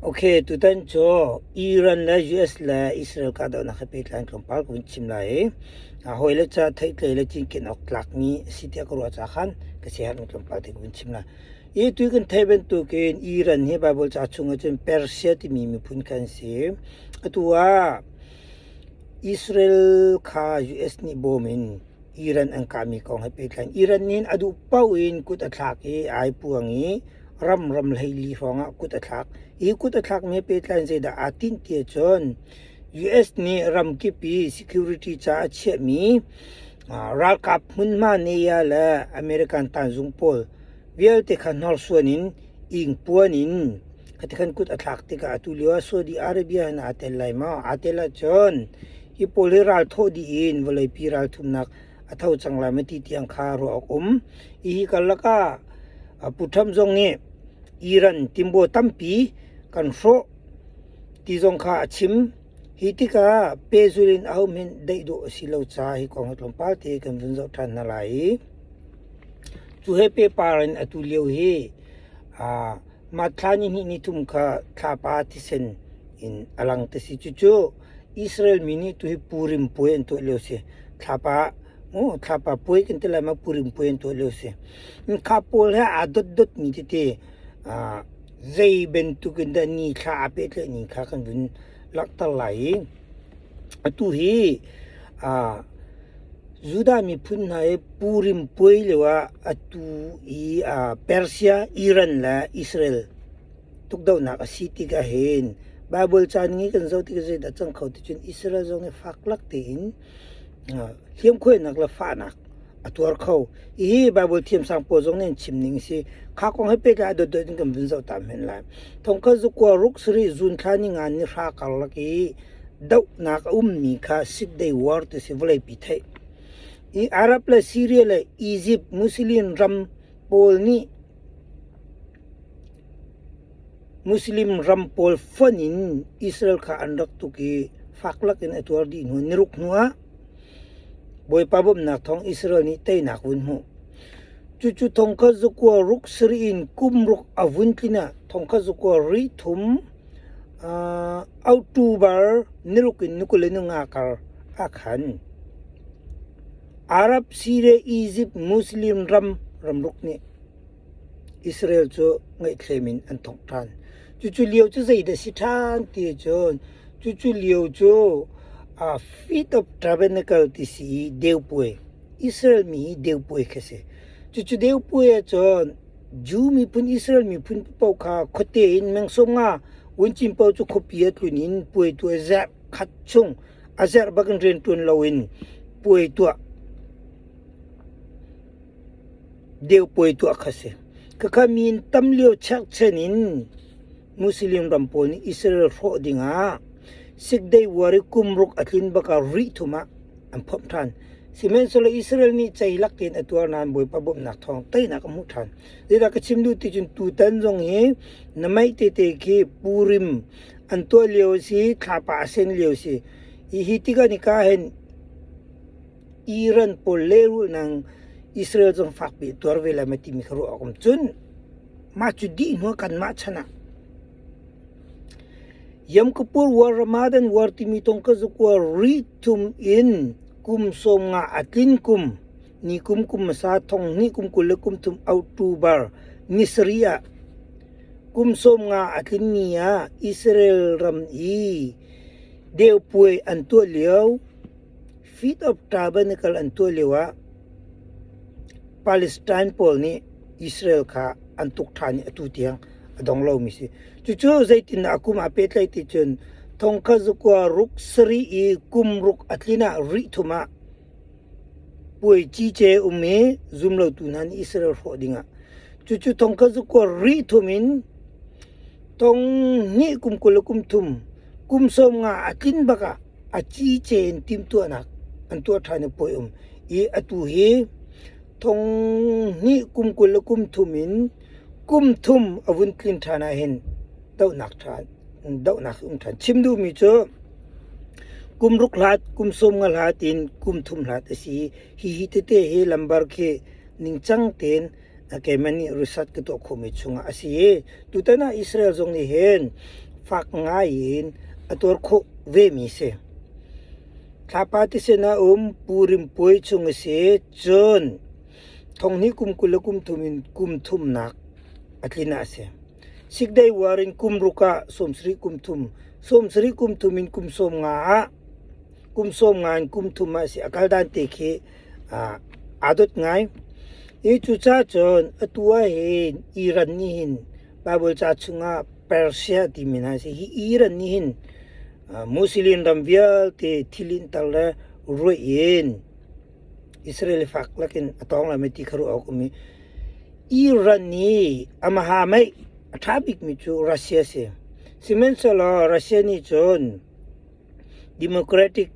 Okay, tutan cu Iran le US le Israel kahdohnak he pehtlai in tlawmpal ka vun chim lai i a hawi le ca theihtlei le cinken awk tlakmi a si tiah ka ruah caah khan ka siaherhmi tlawmpal te ka vun chim lai. Hi tu kan theih bantukin Iran hi Bible ca chungah cun Persia timi miphun kha an si. Atu ah Israel kha US nih bawm in Iran an kahmi kong he pehtlai Iran nih a duh paoh in kut a thlak i ai puang i ram ramhleili hrawngah kut a thlak. Hi kut a thlakmi he pehtlai zeidah aa tinh ti ahcun US nih ramkip i security caah a chiahmi ralkap hmunhma nei ah le American tanzung pawl vialte kha hnorsuan in Ingpuan in a kan kut a thlak tikah atu lio ah Saudi Arabia in aa tel lai maw? Aa tel ahcun hi pawl hi ral thawh dih in vawleipi ralthumnak a tho cang lai maw ti tiang kha ruah awk um. Hihi karlak ah Pu Trump zong nih Iran timbo tampi kan hrawh ti zong kha a chim. Hi tikah pehzul in ahohmanh daih dawh a si lo caah hi kong hi tlawmpal te kan vun zoh ṭhan hna lai i cu he pehpar in atu lio hi aa mah thla nihnih ni thum kha thlapa thisen in a lang ti si. Cucu Israel mi nih tuhi Purim puai an tuah lio a si. Thlapa aw thlapa puai kan ti lai ma Purim puai an tuah lio a si. Kha pawl he aa dotdot mi tete aa zei bantukin dah ni thla a pehtlaih ni kha kan vun langhter lai i atu hi uh, Judah miphun hna i Purim puai lioah atu i uh, Persia, Iran le Israel tukdohnak a si ti ka hin Bible caan ngi kan zoh ti ka zeidah cang kho ti cun Israel zong nih fak lak tein uh, hliamkhuainak le fahnak a tuar kho. Hihi Bible thiamsang pawl zong nih an chim ning a si. Kha kong he pehtlai ah dotdot in kan vun zoh ta men lai. Thongkhat zukua ruk sarih zunthla ningan ni hra karlak i dohnak a ummi kha sick day war ti si vawlei pi theih. I Arab le Syria le Egypt Muslim ram pawl nih Muslim ram pawl fon in Israel kha an rak tuk i faklak in a tuar dih hnu niruk hnuah Bawipa bawmhnak thawng Israel nih teinak vun hmuh. Cucu thongkhat zakua ruk sarih in kum ruk a vun tlin ah thongkhat zakua ri thum, uh, auṭubar ni ruk in ni kul le ni nga kar a khan. Arab si le Izipt Muslim ram ramruk nih Israel cu ngaihthlem in an thawk ṭhan. Cucu lio cu zeidah a si ṭhan ti cun, cucu lio cu aa Feet of Tabernacle ti si i deupuai, Israel mi deupuai kha a si. Cucu deupuai ahcun Jew miphun, Israel miphun paoh kha khuate in meng sung nga vuncin paoh cu khuapi a tlun in puaitu a zerh khat chung a zerh bak in rian ṭuan loin puai tuah. Deupuai tuah kha si. Khakha mi in tam lio chekchen in Muslim ram pawl nih Israel hrawh ding ah sick day war i kum ruk a tlin bak ah rih thum ah an phomh ṭhan. Sihmanhsehlaw Israel mi cei lak tein a tuar nain Bawipa bawmhnak thawng teinak a hmuh ṭhan. Zeidah ka chim duh ti cun tutan zong hi na maih tete khi Purim an tuah lio a si, thlapa a sen lio a si. Hi hi tikah nika hen Iran pawl lehrul nang Israel zong fakpi tuar ve lai mai timi kha ruah awk um cun mah cu dih hnuah kanmah chan ah Yom Kippur War, Ramadan War timi tong ka zuk war ri thum in kum sawm nga a tlin kum ni kum kum hmasa thong ni kum kul le kum thum October ni sarih ah kum sawm nga a tlin ni ah Israel ram i deupuai an tuah lio Feet of Carbon i kal an tuah lioah Palestine pawl nih Israel kha an tuk ṭhan i atu tiang a dong lomi a si. Cucu zeitindah a kum aa pehtlaih ti cun thongkhat zakua ruk sarih i kum ruk a tlin ah rih thum ah puai cice um i zumlotu hna nih Israel hrawh dingah. Cucu thongkhat zakua rih thum in thong hnih kum kul le kum thum Kum sawm nga a tlin bak ah a ciice in timhtuahnak an tuah ṭhan i puai um. I atu hi thong hnih kum kul le kum thum in kum thum a vun tlin ṭhan ahhin dohnak ṭha dohnak um ṭhan. Chim duhmi cu kum ruk hlat, kum sawm nga hlat in kum thum hlat a si. Hihi tete hi lambar khi ningcang tein keimah nih result ka tuah khawhmi chungah a si i tutan ah Israel zong nih hin fak ngai in a tuar khawh vemi si. Thlapa ti sinah um pu rimpuai chung a si cun thonghni kum kul le kum thum in kum thumnak a tlin ah a si. Six day war in kum ruk ah sawm sarih kum thum, sawm sarih kum thum in kum sawm nga ah kum sawm nga in kum thum ah a si. A kal dan te khi aa dot ngai. I cucaah cun atu ahhin Iran nih hin Bible ca chungah Persia ti men ah a si. Hi Iran nih hin Muslim ram vialte thil in tar le ruaih in Israel i fak lakin a tawng lai mei ti kha ruah awk a um i Iran nih amaha mei a ṭha bikmi cu Russia a si. Sihmanhsehlaw Russia nih cun Democratic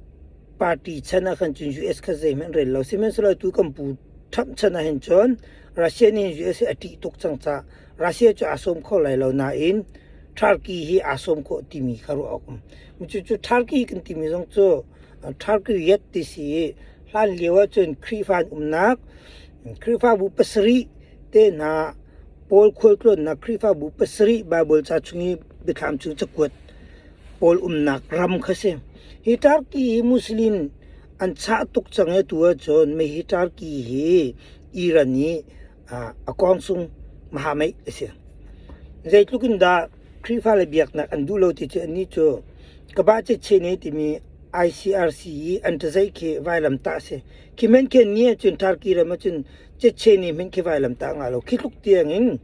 party chan ah khan cun US kha zeihmanh rel lo. Sihmanhsehlaw atu kan pu Trump chan ah hin cun Russia nih hin US hi a ṭih tuk cang cah Russia cu aa sawm kho lai lo nain Turkey hi aa sawm khawh timi kha ruah awk a um. Cucu Turkey kan timi zong cu Turkiyet ti si i hlan lio ah cun Khrihfa an umnak Khrihfabu pasarih te hna Paul khualtlawnnak Khrihfabu pasarih Baibal ca chung i biathlam cu cakuat pawl umnak ram kha a si. Hi Turkey hi Muslim an chah tuk cang i atu ahcun mei hi Turkey hi Iran i a kawngsung mahamei a si. Zeitluk in dah Khrihfa le biaknak an duh lo ti cu annih cu Kaba Chechene timi ICRC i an cazei khi vailam tah a si. Khi hmenkhen ni ahcun Turkey ram ahcun Chechene hmenkhe vailam tah a ngah lo. Khi tluk tiang in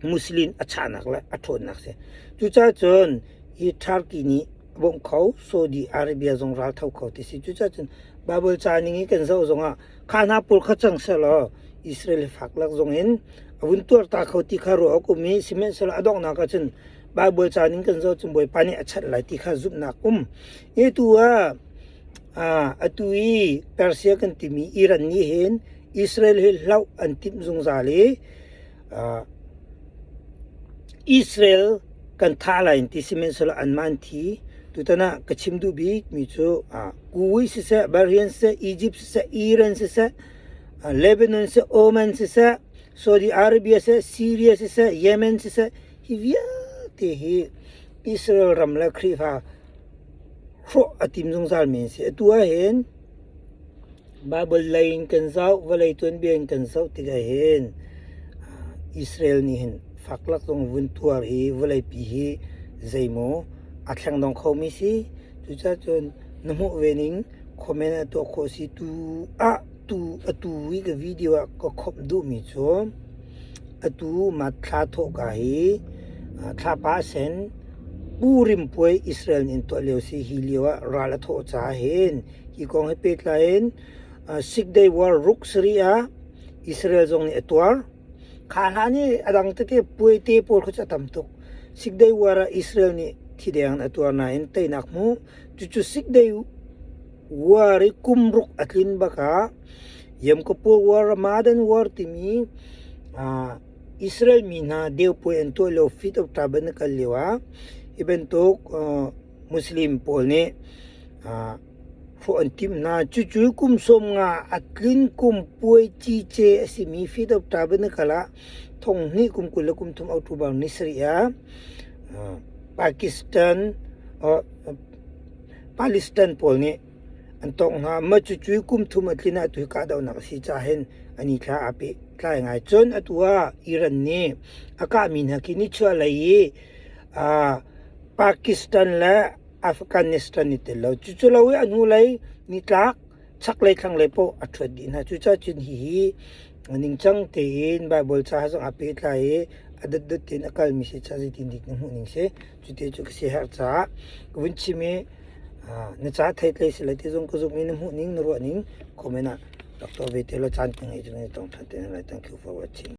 Muslim a chahnak le a ṭhawnnak si. Cucaah cun hi Turkey nih a bawmh kho Saudi Arabia zong raltho kho ti si. Cucaah cun Bible ca ning i kan zoh zongah kha hna pawl kha cang sehlaw Israel i faklak zongin a vun tuarta kho ti kha ruah awk um i sihmanhsehlaw a donghnak ah cun Bible ca ning kan zoh cun Bawipa nih a chat lai ti kha zumhnak um. Hi tu ah aa atu i Persia kan timi Iran nih hin Israel hi hloh an timh zungzal i Israel kan thah lai in ti sihmanhsehlaw anmah an thi. Tutan ah ka chim duh bikmi cu Kuwait siseh, Bahrain siseh, Egypt siseh, Iran siseh, Lebanon siseh, Oman siseh, Saudi Arabia siseh, Syria siseh, Yemen siseh, hi vialte hi Israel ram le Khrihfa hrawh a tim zungzalmi an si. Atu ahhin Baibal lei in kan zoh, vawlei tuanbia in kan zoh tikah hin Israel nih hin faklak zong vun tuar i vawleipi hi zeimaw a thleng dong khomi si. Cucaah cun na hmuh ve ning comment a tuah khawh si tu ah atu i ka video ah ka khawmh duhmi cu atu thla thawhka hi thlapa a sen, Purim puai Israel nih an tuah lio si. Hi lio ah ral a thawh caah hin Hi kong he pehtlai in Sick Day War ruk sarih ah Israel zong nih a tuar. Kha hna nih a dang tete puaite pawl kha cu a tam tuk. Sick Day War ah Israel nih thi deng in a tuar nain teinak hmu. Cucu Sick Day War i kum ruk a tlin bak ah Yom Kippur War, Ramadan War timi Israel mi hna deupuai an tuah lio Feet of Tabernakle lio ah hi bantuk Muslim pawl nih hrawh an timh hna. Cucu kum sawm nga a tlin kum puai cice a simi Fidawta Banakal ah thong hnih kum kul le kum thum October ni sarih ah Pakistan Palestine pawl nih an tawngh hna. Mah cucu kum thum a tlin ah tu hi kahdohnak a si cahin an i thla aa peh tlai ngai. Cun atu ah Iran nih a kahmi hna khi nichuahlei i Pakistan le Afghanistan i tel lo. Cucu lo i a hnulei nitlak chaklei thlanglei paoh a ṭhuat dih hna. Cucaah cun hihi ningcang tein Baibal ca he zong aa pehtlai i a dotdot tein a kalmi si caah zeitindik na hmuhning si. Cuti cu ka siaherh caah ka vun chim i na ca thei tlei si lai ti zong ka zumh i na hmuhning na ruahning comment ah rak tuah ve te law caan ka ngei zong in tong ṭhan te lai. Thank you for watching.